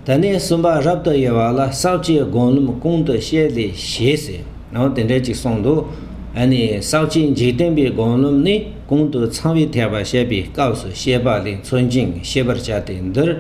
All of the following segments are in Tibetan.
ད་ནི་གསུམ་པ་རབ་ཏུ་དབྱེ་བ་ལ་ཟག་བཅས་སྒོམ་ལམ་ཀུན་ཏུ་བཤད་ལས་ཞེས་ཟེར། དེ་འདྲ་ཅིག་གསུངས་འདུག་ཨཱ་ནི་ཟག་བཅས་འཇིག་རྟེན་པའི་སྒོམ་ལམ་ནི་ཀུན་ཏུ་ཚང་བའི་ཐེག་པ་བཤད་པའི་སྐབས་སུ་བཤད་པ་ལས་མཚོན་ཅིང་ཤེས་པར་བྱ་སྟེ་འདིར།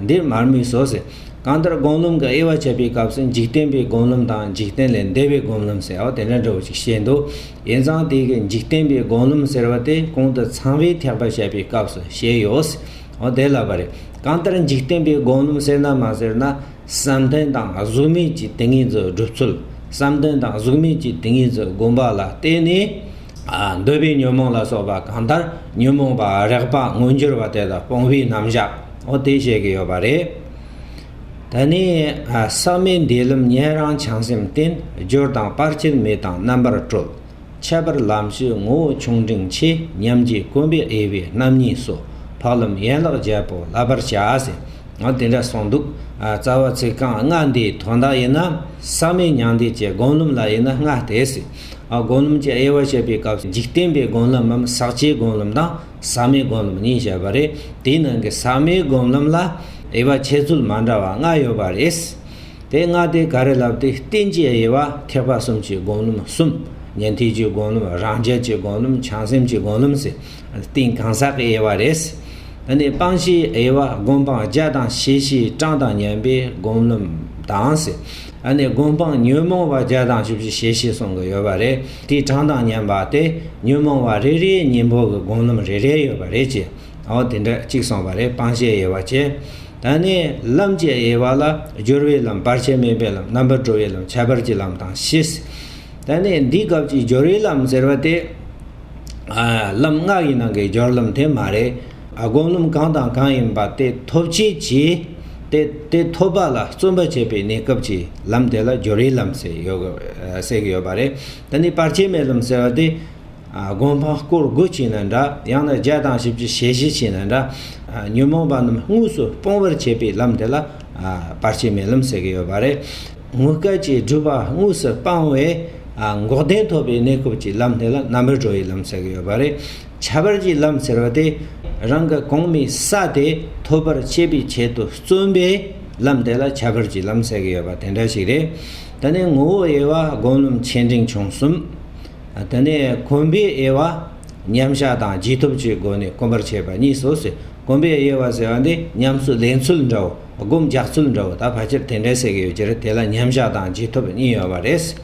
འདིར་མར་མེ་སོགས་ཟེར། གང་ལྟར་སྒོམ་ལམ་གྱི་དབྱེ་བ་འཆད་པའི་སྐབས་སུ་འཇིག་རྟེན་པའི་སྒོམ་ལམ་དང་འཇིག་རྟེན་ལས་འདས་པའི་སྒོམ་ལམ་ཟེར་བ་དེ་འདྲ་འདྲ་བོ་ཅིག་བཤད་འདུག་ཡིན་ཙང་དེ་གའི་འཇིག་རྟེན་པའི་སྒོམ་ལམ་ཟེར་བ་དེ་ཀུན་ཏུ་ཚང་བའི་ཐེག་པ་བཤད་པའི་སྐབས་སུ་བཤད་ཡོད། ཨོ་དེ་ལབ་པ་རེད། གང་ལྟར་འཇིག་རྟེན་པའི་དགོངས་ལུང་ཟེར་ན་མ་ཟེར་ན། བསམ་གཏན་དང་གཟུགས་མེད་ཀྱི་དེ་ངེས་རྫོགས་སྒྲུབ་ཚུལ། བསམ་གཏན་དང་གཟུགས་མེད་ཀྱི་དེ་ངེས་རྫོགས་བསྒོམ་པ་ལ་བརྟེན་ནས། འདོད་པའི་ཉོན་མོངས་ལ་སོགས་པ་གང་ལྟར་ཉོན་མོངས་པ་རེག་པ་མངོན་གྱུར་བ་དེ་དག་སྤོང་བའི་རྣམ་གཞག་ཨོ་དེ་བཤད་ཀྱི་ཡོད་པ་རེད། ད་ནི། ཟག་མེད་འདས་ལམ་ཉན་རང་བྱང་སེམས་བརྟན། སྦྱོར་དང་སྤར་ཕྱིར་མེད་དང་རྣམ་པར་གྲོལ། ཁྱད་པར་ལམ་བཅུའི་ངོ་བོ་ཆུང་འབྲིང་ཆེ་མཉམ་རྒྱུད་དཀོན་པའི་དབྱེ་བས་རྣམ་གཉིས་སོ། འཕགས་ལམ་ཡན་ལག་བརྒྱད་པོ་བསླབ་པར་བྱ། ཟེར། དེ་འདྲ་གསུངས་འདུག། རྩ་བ་ཚིག་རྐང་ལྔ་འདིའི་དོན་དག་ཡིན་ན། ཟག་མེད་མྱང་འདས་ཀྱི་སྒོམ་ལམ་ལ་དབྱེ་ན་ལྔ་སྟེ། སྒོམ་ལམ་གྱི་དབྱེ་བ་འཆད་པའི་སྐབས་འཇིག་རྟེན་པའི་སྒོམ་ལམ་མམ་ཟག་བཅས་སྒོམ་ལམ་དང་ཟག་མེད་སྒོམ་ལམ་གཉིས་བྱས་པ་རེད། དེའི་ནང་གི་ཟག་མེད་སྒོམ་ལམ་ལ་དབྱེ་བ་འཆད་ཚུལ་མ་འདྲ་བ་ལྔ་ཡོད་པ་རེད། དེ་སྔ་སྟེ་ག་རེ་ལབ་སྟེ་བསྟན་ཅེས་དབྱེ་བ་ཐེག་པ་གསུམ་གྱི་དགོངས་ལུང་གསུམ། ཉན་ཐོས་ཀྱི་དགོངས་ལུང་རང་རྒྱལ་གྱི་དགོངས་ལུང་བྱང་སེམས་ཀྱི་དགོངས་ལུང་ཟེར། སྟེང་གང་ཟག་གི་དབྱེ་བ་རེད། ད་ནི་སྤང་བྱའི་དབྱེ་བ་སྒོམ་སྤང་བརྒྱ་དང་ཞེ་བཞིའི་གྲངས་དང་ཉན་པའི་དགོངས་ལུང་དང། ཟེར། ནི་སྒོམ་སྤང་ཉོན་མོངས་པ་བརྒྱ་དང་བཅུ་བཞི་ཞེ་བཞི་གསུངས་ཀྱི་ཡོད་པ་རེད། དེའི་གྲངས་དང་ཉན་པ་སྟེ་ཉོན་མོངས་པ་རེ་རེའི་གཉེན་པོ་གི་དགོངས་ལུང་རེ་རེ་ཡོད་པ་རེད། ཅེས། འོ་དེ་འདྲ་གཅིག་སོང་བ་རེད་སྤང་བྱའི་དབྱེ་བ་བྱས། ད་ནི་ལམ་བྱའི་དབྱེ་བ་ལ་སྦྱོར་བའི་ལམ་བར་ཆད་མེད་པའི་ལམ་རྣམ་པར་གྲོལ་བའི་ལམ་ཁྱད་པར་གྱི་ལམ་དང་ཤེས། ད་ནི་འདིའི་སྐབས་ཀྱི་སྦྱོར་བའི་ལམ་ཟེར་བ་དེ། ལམ་སྔགས་ཡིན་ནང་གི་སྦྱོར་ལམ་དེ་མ་རེད། སྒོམ་ལམ་གང་དང་གང་ཡིན་པ་དེ་ཐོབ་བྱེད་ཀྱི། དེ་དེ་ཐོབ་པ་ལ་བརྩོན་པ་བྱེད་པའི་གནས་སྐབས་ཀྱི་ལམ་དེ་ལ་སྦྱོར་བའི་ལམ་ཟེར་ཡོད་གི་ཡོད་པ་རེད། ད་ནི་བར་ཆད་མེད་ལམ་ཟེར་བ་དེ། སྒོམ་སྤང་བསྐོར་དགུ་བྱས་ན་འདྲ། ཡང་ན་བརྒྱད་དང་བཞི་བཅུ་ཞེ་བཞི་བྱས་ན་འདྲ། ཉོན་མོངས་པ་རྣམས་དངོས་སུ་སྤོང་བར་བྱེད་པའི་ལམ་དེ་ལ་བར་ཆད་མེད་ལམ་ཟེར་གྱི་ཡོད་པ་རེད། དངོས་སྐལ་གྱི་སྒྲུབ་པ་དངོས་སུ་སྤང་བས་འགོག་བདེན་ཐོབ་པའི་གནས་སྐབས་ཀྱི་ལམ་དེ་ལ་རྣམ་པར་གྲོལ་བའི་ལམ་ཟེར་གྱི་ཡོད་པ་རེད། ཁྱད་པར་གྱི་ལམ་ཟེར་བ་དེ་རང་གི་གོང་མའི་ས་དེ་ཐོབ་པར་བྱེད་པའི་ཆེད་དུ་བརྩོན་པའི་ལམ་དེ་ལ་ཁྱད་པར་གྱི་ལམ་ཟེར་གྱི་ཡོད་པ་དེ་འདྲ་ཞིག་རེད། ད་ནི་ངོ་བོ་དབྱེ་བ་སྒོམ་ལམ་ཆེ་འབྲིང་ཆུང་གསུམ། དེ་ནས་གོམས་པའི་དབྱེ་བ། མཉམ་བཞག་དང་རྗེས་ཐོབ་ཀྱི་སྒོ་ནས་གོམས་པར་བྱེད་པ་གཉིས་སོ་ཟེར། གོམས་པའི་དབྱེ་བ་ཟེར་བ་འདི་ཉམས་སུ་ལེན་ཚུལ་འདྲ་བོ། སྒོམ་རྒྱག་ཚུལ་འདྲ་བོ་དང་ཕལ་ཆེར་དེ་འདྲའི་ཟེར་གྱི་ཡོད་ཀྱི་རེད་དེ་ལ་མཉམ་བཞག་དང་རྗེས་ཐོབ་གཉིས་ཡོད་པ་རེད།